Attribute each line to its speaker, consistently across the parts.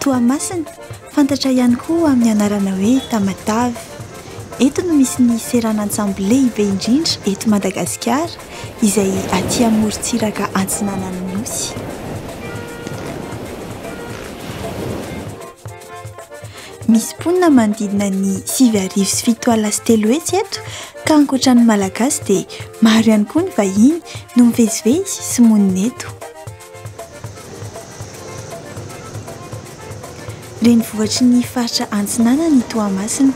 Speaker 1: Toamasina, fantatra ihany koa amin'ny anarana hoe Tamatave. Eto no misy ny seranan-tsambo lehibe indrindra eto Madagasikara izay aty amorontsiraka antsinanan'ny nosy. Misy mponina manodidina ny sivy arivo sy fito alina sy telo hetsy eto ka ankoatra ny Malagasy dia maro ihany koa ny vahiny no mivezivezy sy monina eto. Renivohitry ny faritra Antsinanana i Toamasina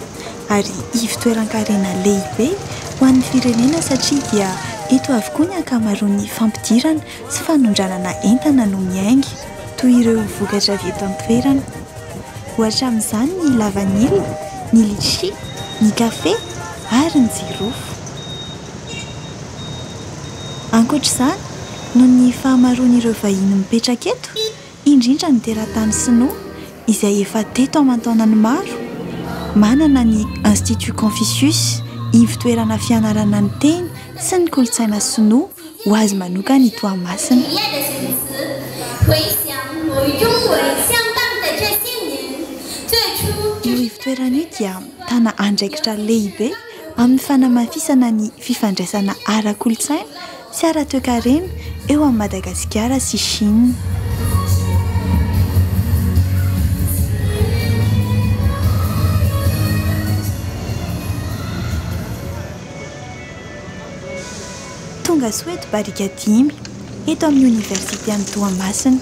Speaker 1: ary ivon-toeran-karena lehibe ho an'ny firenena satria dia eto avokoa ny ankamaroan'ny fampidirana Tsy fanondranana entana no miainga toy ireo vokatra avy eto an-toerana. Ohatra amin'izany ny lavanila, ny litchi, ny kafe ary ny jirofo. Ankoatra izany, noho ny fahamaroan'ireo vahiny mipetraka eto, indrindra ny teratany sinoa izay efa teto aman-taonany maro, manana ny Institut Confucius ivo-toerana fianarana ny teny sy ny kolontsaina sinoa ho azy manokana i Toamasina. Io ivo-toerana io dia mitana andraikitra lehibe amin'ny fanamafisana ny fifandraisana ara-kolontsaina Tsy ara-toekarena eo amin'i Madagasikara sy Chine. Tonga soa eto barika dimy, eto amin'ny Oniversite an'i Toamasina.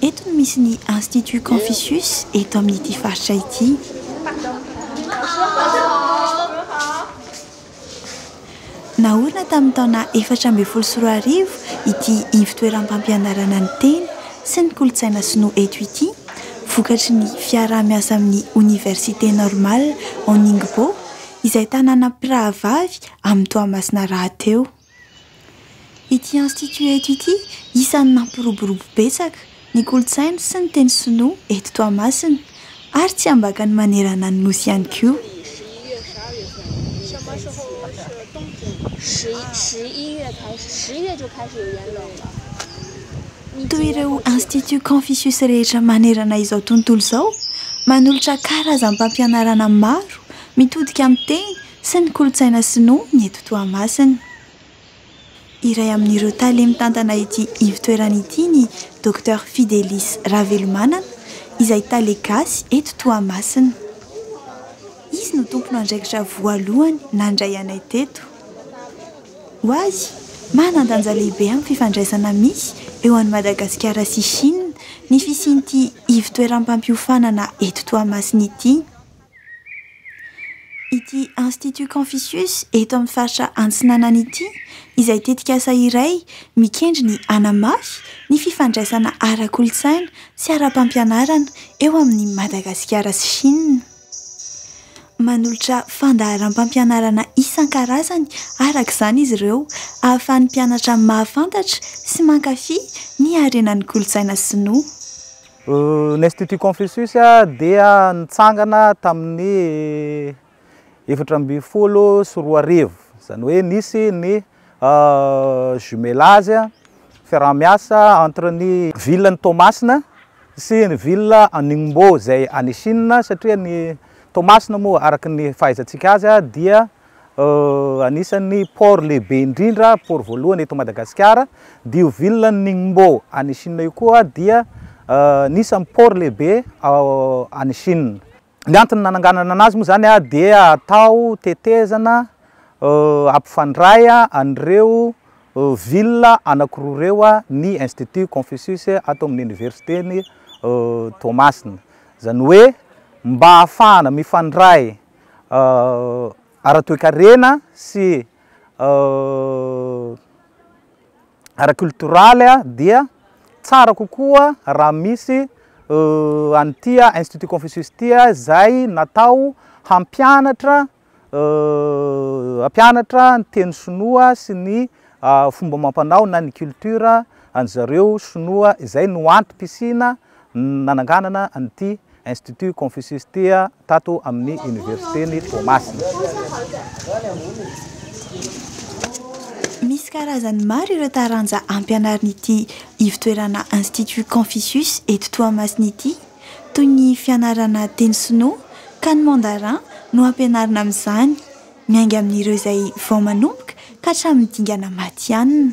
Speaker 1: Eto no misy ny Institut Confucius eto amin'ity faritra ity. Naorina tamin'ny taona efatra ambin'ny folo sy roa arivo ity ivon-toeram-pampianarana ny teny sy ny kolontsaina sinoa eto ity, vokatry ny fiaraha-miasa amin'ny Oniversite Normale Hon Ningbo, izay tanàna mpirahavavy amin'i Toamasina rahateo. Ity Institut eto ity, isan'ny nampiroborobo betsaka ny kolontsaina sy ny teny sinoa eto Toamasina ary tsy ambakany manerana ny Nosy ihany koa. Toy ireo Institut Confucius rehetra manerana izao tontolo izao, manolotra karazam-pampianarana maro mitodika amin'ny teny sy ny kolontsaina sinoa ny eto Toamasina. Iray amin'ireo tale mitantana ity ivotoerana ity ny Docteur Fidelis Ravelomanana izay tale gasy eto Toamasina. Izy no tompon'andraikitra voalohany nandray anay teto. Ho azy, manan-danja lehibe amin'ny fifandraisana misy eo an'i Madagasikara sy Chine ny fisian'ity ivotoeram-pampiofanana eto Toamasina ity. Ity Institut Confucius eto amin'ny faritra Antsinanana ity izay tetikasa iray mikendry ny hanamafy ny fifandraisana ara-kolontsaina sy ara-pampianarana eo amin'i Madagasikara sy Shina. Manolotra fandaharam-pampianarana isan-karazany araka izany izy ireo ahafahan'ny mpianatra mahafantatra sy mankafy ny harenan'ny kolontsaina sinoa.
Speaker 2: Ny Institut Confucius dia nitsangana tamin'ny efatra ambin'ny folo sy roa arivo, izany hoe nisy ny jumelage, fiaraha-miasa, entre ny ville an'i Toamasina sy ny ville an'i Ningbo izay any Chine, satria ny Toamasina moa araka ny fahaizantsika azy dia Anisan'ny port lehibe indrindra, port voalohany eto Madagasikara, dia io ville an'i Ningbo any Chine io koa dia anisan'ny port lehibe any Chine. Ny antony nananganana anazy moa izany dia atao tetezana hampifandray an'ireo ville anankiroa ireo ny Institut Confucius ato amin'ny Oniversiten'i Toamasina. Izany hoe mba ahafahana mifandray ara-toekarena sy ara-cultural dia tsara kokoa raha misy an'ity Institut Confucius ity izay natao hampianatra hampianatra ny teny sinoa sy ny fomba amam-panao na ny culture an'izareo sinoa izay no antom-pisiana nananganana an'ity Institut Confucius ity tato amin'ny Oniversiten'i Toamasina.
Speaker 1: Misy karazany maro ireo taranja ampianarin'ity ivotoerana Institut Confucius eto Toamasina ity, toy ny fianarana teny sinoa ka ny mandarin no ampianarina amin'izany, miainga amin'ireo izay vao manomboka ka hatramin'ny dingana matihanina.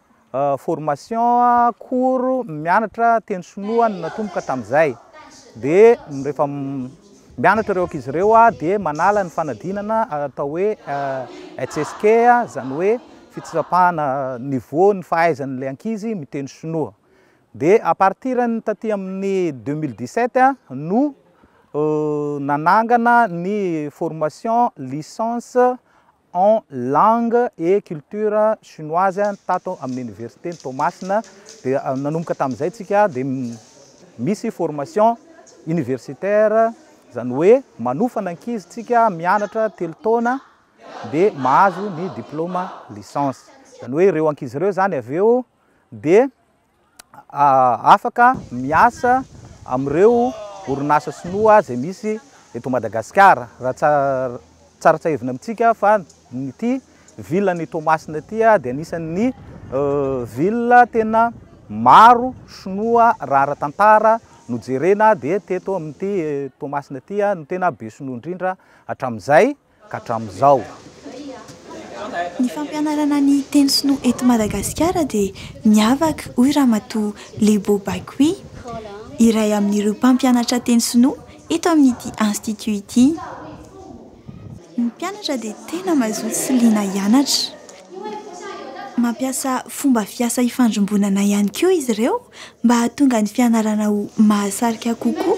Speaker 2: formation cours mianatra teny sinoa no natomboka tamin'izay dia rehefa mianatra ireo ankizy ireo aho dia manala ny fanadinana atao hoe HSK izany hoe fitsapana niveau ny fahaizan'ilay ankizy miteny sinoa dia à partir ny taty amin'ny deux mille dix sept no nanangana ny formation licence en langue et culture chinoise tato amin'ny oniversiten'i Toamasina dia nanomboka tamin'izay tsika dia misy formation universitaire izany hoe manofana ankizy tsika mianatra telo taona dia mahazo ny diploma licence izany hoe ireo ankizy ireo izany avy eo dia afaka miasa amin'ireo orinasa sinoa izay misy eto Madagasikara. Raha tsara tsiahivina amintsika fa ity ville an'i Toamasina ity dia anisan'ny ville tena maro sinoa raha ara-tantara no jerena dia teto amin'ity Toamasina ity no tena be sinoa indrindra hatramin'izay. ka hatramin'izao.
Speaker 1: Ny fampianarana ny teny sinoa eto Madagasikara dia niavaka, hoy Ramatoa Lebo Baikwi, iray amin'ireo mpampianatra teny sinoa eto amin'ity Institut ity. Ny mpianatra dia tena mazoto sy liana hianatra. Mampiasa fomba fiasa ifandrimbonana ihany koa izy ireo mba hahatonga ny fianarana ho mahasarika kokoa.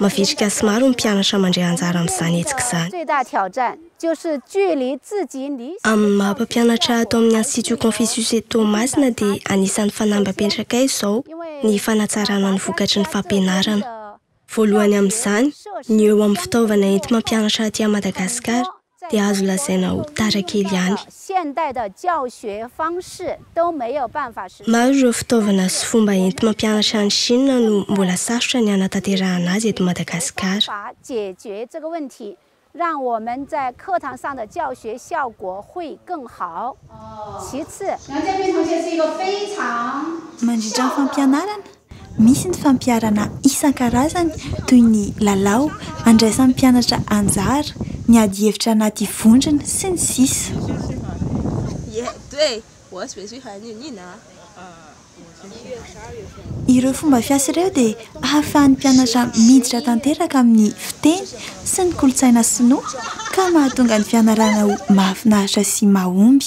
Speaker 3: Mavitrika sy maro ny mpianatra mandray anjara amin'izany hetsika izany. Amin'ny maha mpampianatra ato amin'ny Institut Confucius eto Toamasina dia anisan'ny fanamby apetraka ahy izao ny fanatsarana ny vokatry ny fampianarana. Voalohany amin'izany, ny eo amin'ny fitaovana enti-mampianatra aty Madagasikara. dia azo lazaina ho tara kely ihany. Maro ireo fitaovana sy fomba enti-mampianatra any Shina no mbola sarotra ny hanatanterahana azy eto Madagasikara. Mandritra
Speaker 4: ny fampianarana,
Speaker 1: Misy ny fampiharana isan-karazany toy ny lalao andraisan'ny mpianatra anjara, ny adihevitra anaty vondrona sy ny sisa. Ireo fomba fiasa ireo dia ahafahan'ny mpianatra miditra tanteraka amin'ny fiteny sy ny kolontsaina sinoa ka mahatonga ny fianarana ho mahafinaritra sy mahomby.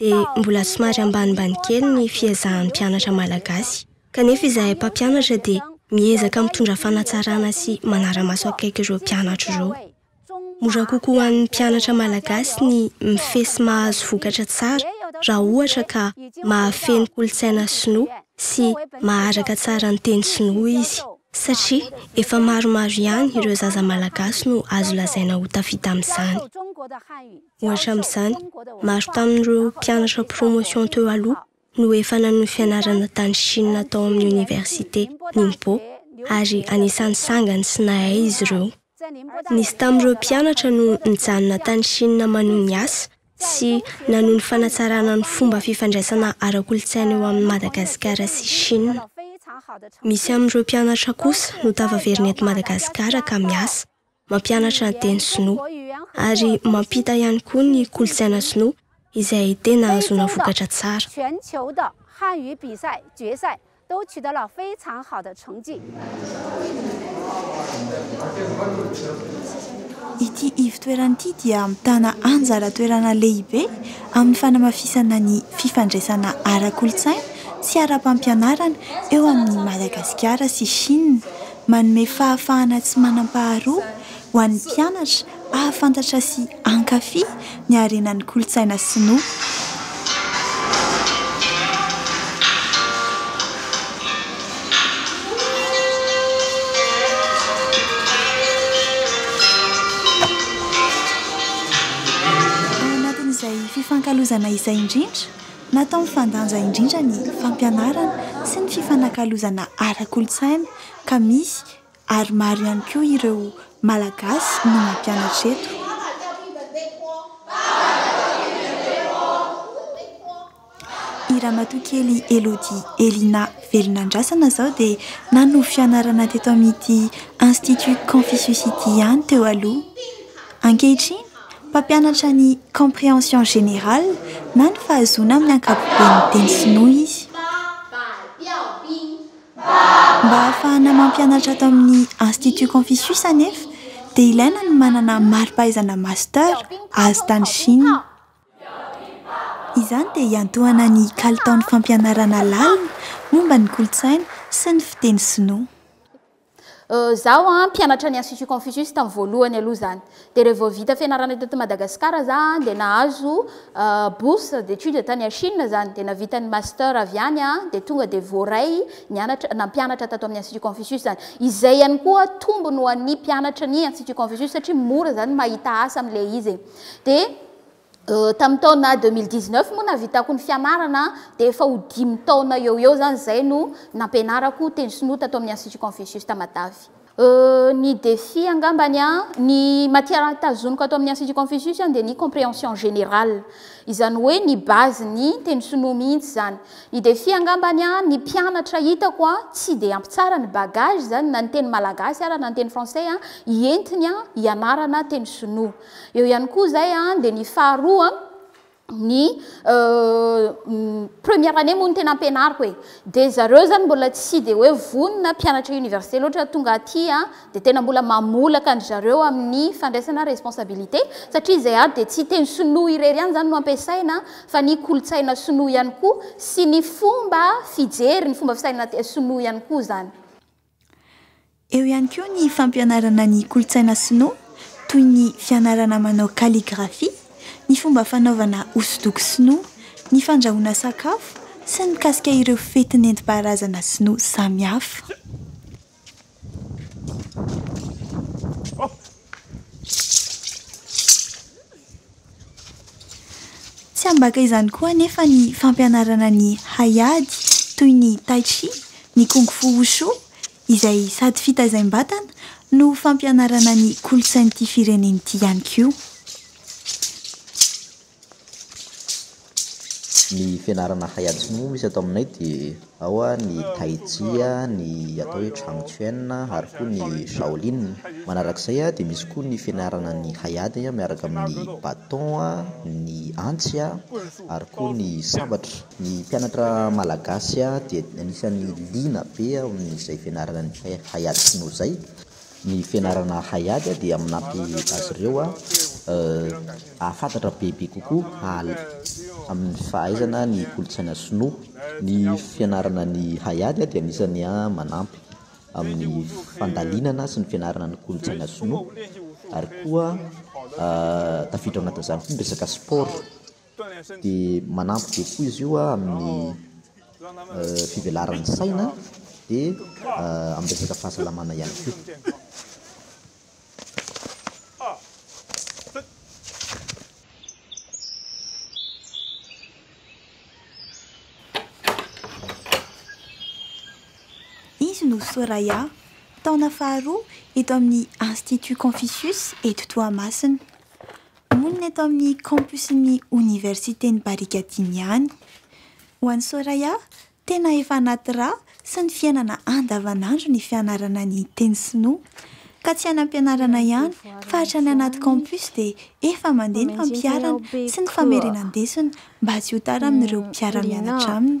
Speaker 3: dia mbola somary ambanimbany kely ny fiezahan'ny mpianatra malagasy, kanefa izahay mpampianatra dia miezaka mitondra fanatsarana sy manara-maso akaiky ireo mpianatra ireo. Mora kokoa ho an'ny mpianatra malagasy ny mifehy sy mahazo vokatra tsara raha ohatra ka mahafehy ny kolontsaina sinoa sy maharaka tsara ny teny sinoa izy, satria efa maromaro ihany ireo zaza malagasy no azo lazaina ho tafita amin'izany. Ohatra amin'izany, maro tamin'ireo mpianatra promotion teo aloha no efa nanohy fianarana tany Chine tao amin'ny Oniversite Ningbo, ary anisan'ny sangany sy nahay izy ireo. Nisy tamin'ireo mpianatra no nijanona tany Chine manohy ny asa sy nanohy ny fanatsarana ny fomba fifandraisana ara-kolontsaina eo amin'i Madagasikara sy Chine. Misy amin'ireo mpianatra kosa no tafaverina eto Madagasikara ka miasa. mampianatra ny teny sinoa ary mampita ihany koa ny kolontsaina sinoa izay tena ahazoana vokatra tsara. Ity ivotoerana
Speaker 1: ity dia mitana anjara toerana lehibe amin'ny fanamafisana ny fifandraisana ara-kolontsaina sy ara-pampianarana eo amin'i Madagasikara sy Shina Manome fahafahana tsy manam-paharoa ho an'ny mpianatra hahafantatra sy hankafy ny harenan'ny kolontsaina sinoa. Ao anatin'izay fifankalozana izay indrindra Natao mifandanja indrindra ny fampianarana sy ny fifanakalozana ara-kolontsaina ka misy ary maro ihany koa ireo Malagasy no mampianatra eto. I Ramatoakely Elodie Elina Velonandrasana izao dia nanovo fianarana teto amin'ity Institut Confucius ity ihany teo aloha. Ankehitriny Mpampianatra ny Comprehension Générale na ny fahazoana amin'ny ankapobeny ny teny sinoa izy. Mba hahafahana mampianatra ato amin'ny Institut Confucius anefa dia ilaina ny manana mari-pahaizana Master azo tany Chine. Izany dia hiantohana ny kalitaon'ny fampianarana lalina momba ny kolontsaina sy ny fiteny sinoa.
Speaker 5: Zaho an mpianatra ny institut Confucius tamin'ny voalohany aloha zany de re vao vita fianarana teto Madagascar za an de nahazo bourse d'étude tany à Chine zany de navita ny master avy any an de tonga de voaray nianatra nampianatra tato amin'ny institut Confucius zany izay ihany koa tombony ho an'ny mpianatra ny institut Confucius satria mora zany mahita asa amle izy e de Tamin'ny taona deux mille dix neuf moa nahavitako ny fianarana dia efa ho dimy taona eo ho eo izany izay no nampianarako teny sinoa tato amin'ny Institut Confucius Tamatave. Ny défi angambany an, ny matière tazoniko ato amin'ny Institut Confucius an dia ny comprehension générale, izany hoe ny base ny teny sinoa mihitsy izany. Ny défi angambany an, ny mpianatra hitako an tsy dia ampy tsara ny bagage izany na ny teny malagasy ara na ny teny français hientiny hianarana teny sinoa. Eo ihany koa izay dia ny faharoa ny première année moa no tena ampianariko e dia zareo izany mbola tsy dia hoe vonona mpianatra université loatra tonga aty a dia tena mbola mamolaka an-dry zareo amin'ny fandraisana responsabilité satria izay ato dia tsy teny sinoa irery ihany izany no ampiasaina fa ny kolontsaina sinoa ihany koa sy ny fomba fijery ny fomba fisaina sinoa ihany koa izany.
Speaker 1: Eo ihany koa ny fampianarana ny kolontsaina sinoa toy ny fianarana manao kaligrafia, ny fomba fanaovana hosodoko sinoa, ny fandrahoana sakafo sy ny mikasika ireo fety nentim-paharazana sinoa samihafa. Tsy ambaka izany koa anefa ny fampianarana ny haiady toy ny tai chi, ny kung fu wushu izay sady fitaizaim-batana no fampianarana ny kolontsain'ity firenena ity ihany koa.
Speaker 6: Ny fianarana hay ady sinoa moa misy ato aminay dia ao ny tai chi, ny atao hoe chang chuen ary koa ny shaolin. Manaraka izay dia misy koa ny fianarana ny hay ady miaraka amin'ny baton, ny antsy ary koa ny sabatra. Ny mpianatra malagasy dia anisan'ny liana be amin'izay fianarana ny hay ady sinoa izay Ny fianarana haiady dia manampy azy ireo hahafantatra bebe kokoa amin'ny fahaizana ny kolontsaina sinoa. Ny fianarana ny haiady dia anisan'ny manampy amin'ny fandalinana sy ny fianarana ny kolontsaina sinoa ary koa tafiditra ao anatin'izany koa ny resaka sport. Dia manampy be koa izy io amin'ny fivelaran'ny saina dia amin'ny resaka fahasalamana ihany koa.
Speaker 1: Izy no Soraya, taona faharoa eto amin'ny Institut Confucius eto Toamasina. Monina eto amin'ny campusin'ny Oniversiten'i Barikadimy ihany. Ho an'i Soraya, tena efa anaty ra sy ny fiainana andavanandro ny fianarana ny teny sinoa. Ka tsy any am-pianarana ihany fa hatrany anaty campus dia efa mandeha ny fampiharana sy ny famerenan-desona mba tsy ho tara amin'ireo mpiara-mianatra aminy.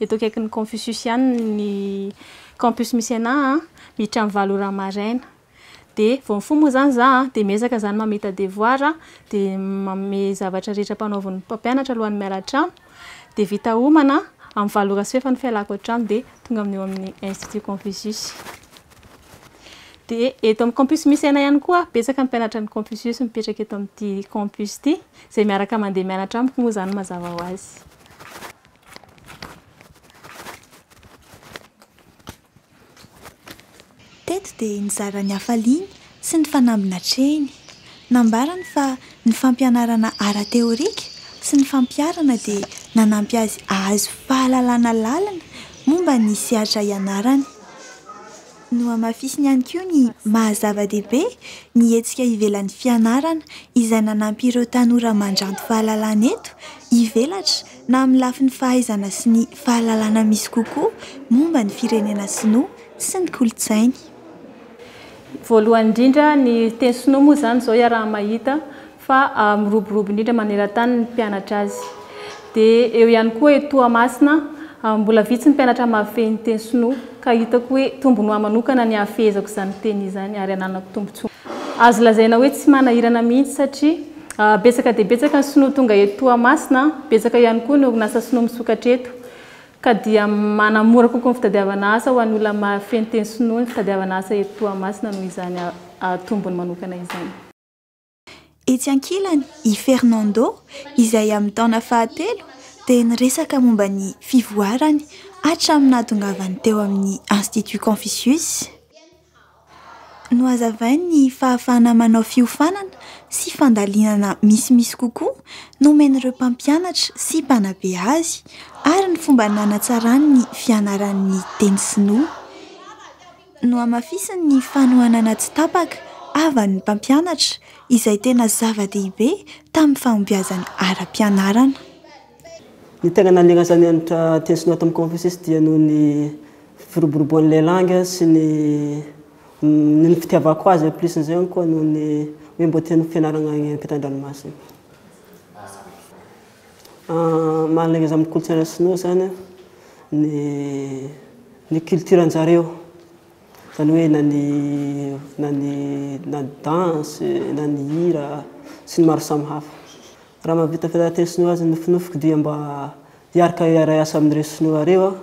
Speaker 7: Eto akaikin'ny Konfisiosiana ny Campus Mycénas a, miditra amin'ny valo ora maraina. Dia vao mifoha moa izany izaho dia miezaka izany mamita devoir a, dia manome zavatra rehetra ampanaovin'ny mpampianatra alohan'ny miala an-trano. Dia vita homana, amin'ny valo ora sy fefa ny fialako an-trano dia tonga amin'io amin'ny Institut Confucius. Dia eto amin'ny Campus Mycénas ihany koa, betsaka ny mpianatra ny Konfisiosy mipetraka eto amin'ity Campus ity, izay miaraka mandeha mianatra amiko moa izany mazava ho azy.
Speaker 1: Teto dia nizara ny hafaliany sy ny fanamby natrehiny. Nambarany fa ny fampianarana ara-teorika sy ny fampiharana dia nanampy azy hahazo fahalalana lalina momba ny sehatra ianarany. Nohamafisiny ihany koa ny maha-zava-dehibe ny hetsika ivelan'ny fianarana izay nanampy ireo tanora mandranto fahalalana eto ivelatra na amin'ny lafiny fahaizana sy ny fahalalana misy kokoa momba ny firenena sinoa sy ny kolontsainy.
Speaker 7: Voalohany indrindra, ny teny sinoa moa izany izao iaraha-mahita fa miroborobo indrindra maneran-tany ny mpianatra azy. Dia eo ihany koa eto Toamasina, mbola vitsy ny mpianatra mahafehy ny teny sinoa, ka hitako hoe tombony ho ahy manokana ny hahafehezako izany teny izany ary hananako tombontsoa. Azo lazaina hoe tsy manahirana mihitsy satria Betsaka dia betsaka ny sinoa tonga eto Toamasina, betsaka ihany koa ny orinasa sinoa misokatra eto, ka dia manamora kokoa ny fitadiavana asa ho an'ny olona mahafehy ny teny sinoa ny fitadiavana asa eto Toamasina noho izany tombony manokana izany.
Speaker 1: Etsy ankilany, i Fernando, izay amin'ny taona fahatelo, dia niresaka momba ny fivoarany hatramin'ny nahatongavany teo amin'ny Institut Confucius. Nohazavainy ny fahafahana manao fiofanana sy fandalinana misimisy kokoa nomen'ireo mpampianatra sy mpanabe azy ary ny fomba nanatsarany ny fianarany ny teny sinoa. Nohamafisiny ny fanohanana tsy tapaka havan'ny mpampianatra, izay tena zava-dehibe tamin'ny fahombiazany ara-pianarana.
Speaker 8: Ny tena nanirasany hanitra teny sinoa tamin'i Konfosiosy dia noho ny firoboroboan'ny lehilahy sy ny noho ny fitiavako azy en plus n'izay koa noho ny hoe mbola tiany fianarana any ampitan-dranomasina. Maha-alèreza amin'ny kolontsaina sinoa izany ny ny culture-n'zareo, izany hoe na ny na ny na ny danse, na ny hira sy ny maro samihafa. Raha mahavita federately sinoa azy ny nofinofiko dia mba hiarka hiaray asa amin'ireo sinoa ireo aho.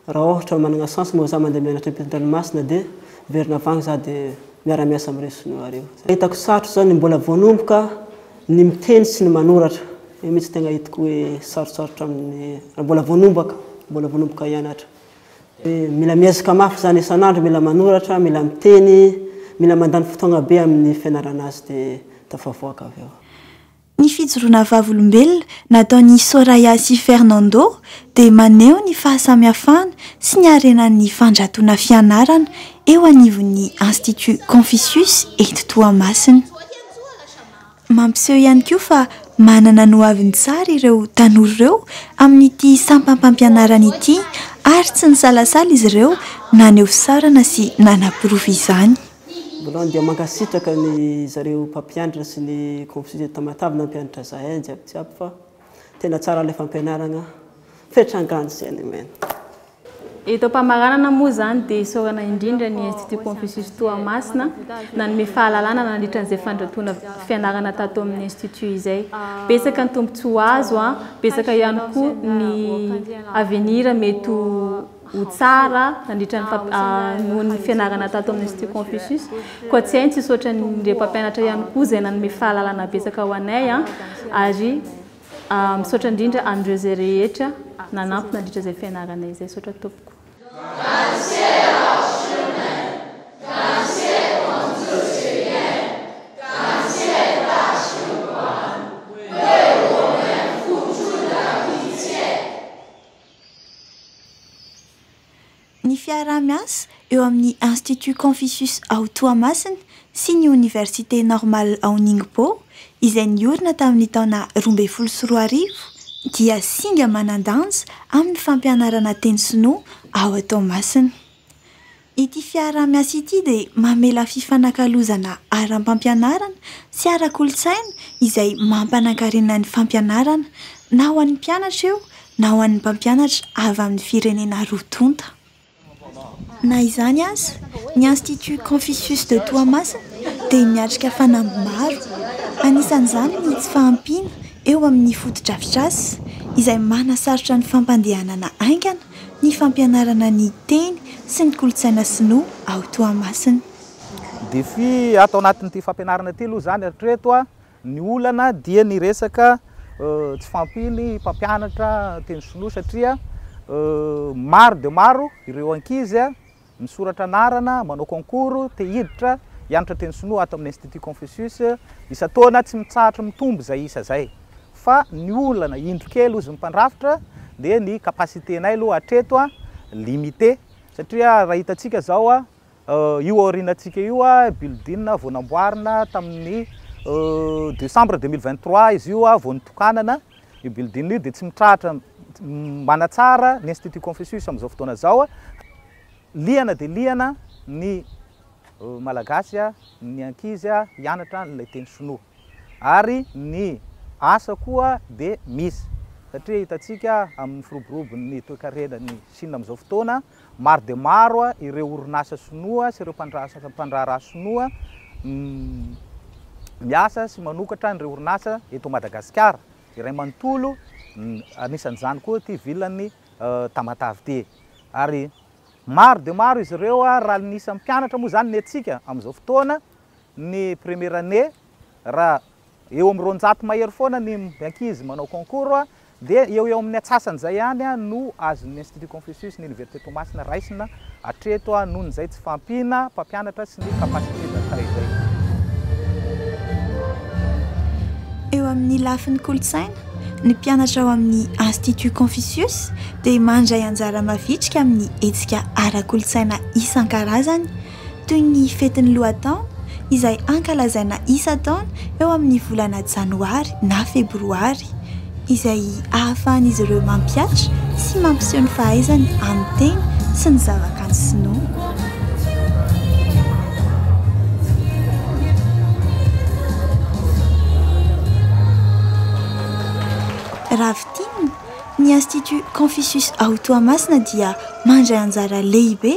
Speaker 8: Raha ohatra managna chance moa za mandeha mianatra ampitan-dranomasina dia miverina avy agny za dia miara-miasa amin'ireo sinoa ireo. Hitako sarotra zao ny mbola vao nomboka ny miteny sy ny manoratra. Io mihitsy tegna hitako hoe sarotsarotra amin'ny raha mbola vao nombaka, mbola vao nomboka hianatra. Dia mila miezaka mafy zany isan'andro, mila manoratra, mila miteny, mila mandany fotoagna be amin'ny fianarana azy dia tafavoaka avy eo. Ny
Speaker 1: fijoroana vavolombelona nataon'i Soraya sy Fernando dia maneho ny fahasamihafana sy ny harenan'ny fandratoana fianarana eo anivon'ny Institut Confucius eto Toamasina. Mampiseho ihany koa fa manana ny ho aviny tsara ireo tanora ireo amin'ity sampam-pampianarana ity ary tsy nisalasala izy ireo naneho fisaorana sy nanaporofo izany. Voalohany dia
Speaker 8: mankasitraka ny zareo mpampianatra sy ny complices Tamatave nampianatra zahay jiaby jiaby fa tena tsara ilay fampianarana fetra angano sy any amen. Eto
Speaker 7: am-pamaranana moa izany dia isaorana indrindra ny Institut Confucius Toamasina nanome fahalalana nandritra an'izay fandrotoana fianarana tato amin'ny Institut izay. Betsaka ny tombontsoa azo, betsaka ihany koa ny avenir mety ho. ho tsara nandritra ny famp- ah, noho ny fianarana tato amin'ny Institut Confucius. Koa tsy hay ny tsisy hoatran'ireo mpampianatra ihany koa izay nanome fahalalana betsaka ho anay an, ary ah, misaotra indrindra an'ireo izay rehetra nanampy nandritra izay fianarana izay. Misaotra tompoko.
Speaker 1: Ny fiaraha-miasa eo amin'ny Institut Confucius ao Toamasina sy ny Oniversite Normale ao Ningbo, izay niorina tamin'ny taona roa ambin'ny folo sy roa arivo, dia singa manan-danja amin'ny fampianarana teny sinoa ao Toamasina. Ity fiaraha-miasa ity dia mamela fifanakalozana ara-pampianarana sy ara-kolontsaina izay mampanankarena ny fampianarana na ho an'ny mpianatra eo na ho an'ny mpampianatra avy amin'ny firenena roa tonta. Na izany aza, ny Institut Confucius de Toamasina dia miatrika fanamby maro, anisan'izany ny tsy fahampiana eo amin'ny fotodrafitrasa izay manasarotra ny fampandehanana haingana, ny fampianarana ny teny sy ny kolontsaina sinoa ao Toamasina. Défi
Speaker 2: ato anatin'ity fampianarana ity aloha izany hatreto a, ny olana dia ny resaka tsy fahampian'ny mpampianatra teny sinoa satria maro dia maro ireo ankizy a, Misoratra anarana, manao concours, te hiditra, hianatra teny sinoa ato amin'ny Institut Confucius, isan-taona tsy mitsahatra mitombo izay isa izay. Fa ny olana indro kely hozy ny mpandrafitra dia ny capacité-nay aloha hatreto limité satria raha hitantsika izao io aorianantsika io building vao namboarina tamin'ny decembre deux mille vingt trois izy io vao notokanana, Io building io dia tsy mitrahatra manatsara ny Institut Confucius amin'izao fotoana izao. Liana dia liana ny Malagasy, ny ankizy hianatra ilay teny Shinoa. Ary ny asa koa dia misy, satria hitantsika amin'ny firoborobon'ny toekarenan'i Shina amin'izao fotoana, Maro dia maro ireo orinasa sinoa sy ireo mpandraharaha sinoa miasa sy manokatra an'ireo orinasa eto Madagasikara. Iray manontolo, anisan'izany koa ity vilan'ny Tamatave ity. Ary maro dia maro izy ireo, raha ny isan'ny mpianatra moa izany ny antsika amin'izao fotoana, ny première année, Raha eo amin'ny roanjato mahery foana ny ankizy manao concours dia eo eo amin'ny atsasan'izay ihany no azon'ny Institut Confucius ny Oniversite Toamasina raisina hatreto noho izay tsy fahampiana mpampianatra sy ny capacité d'accueil izay.
Speaker 1: Eo amin'ny lafiny kolontsaina, ny mpianatra ao amin'ny Institut Confucius dia mandray anjara mavitrika amin'ny hetsika ara-kolontsaina isan-karazany, toy ny fetin'ny lohataona izay hankalazaina isan-taona eo amin'ny volana janoary na febroary, izay ahafahan'izy ireo mampihatra sy mampiseho ny fahaizany amin'ny teny sy ny zavakanto sinoa. Raha fintinina, ny Institut Confucius ao Toamasina dia mandray anjara lehibe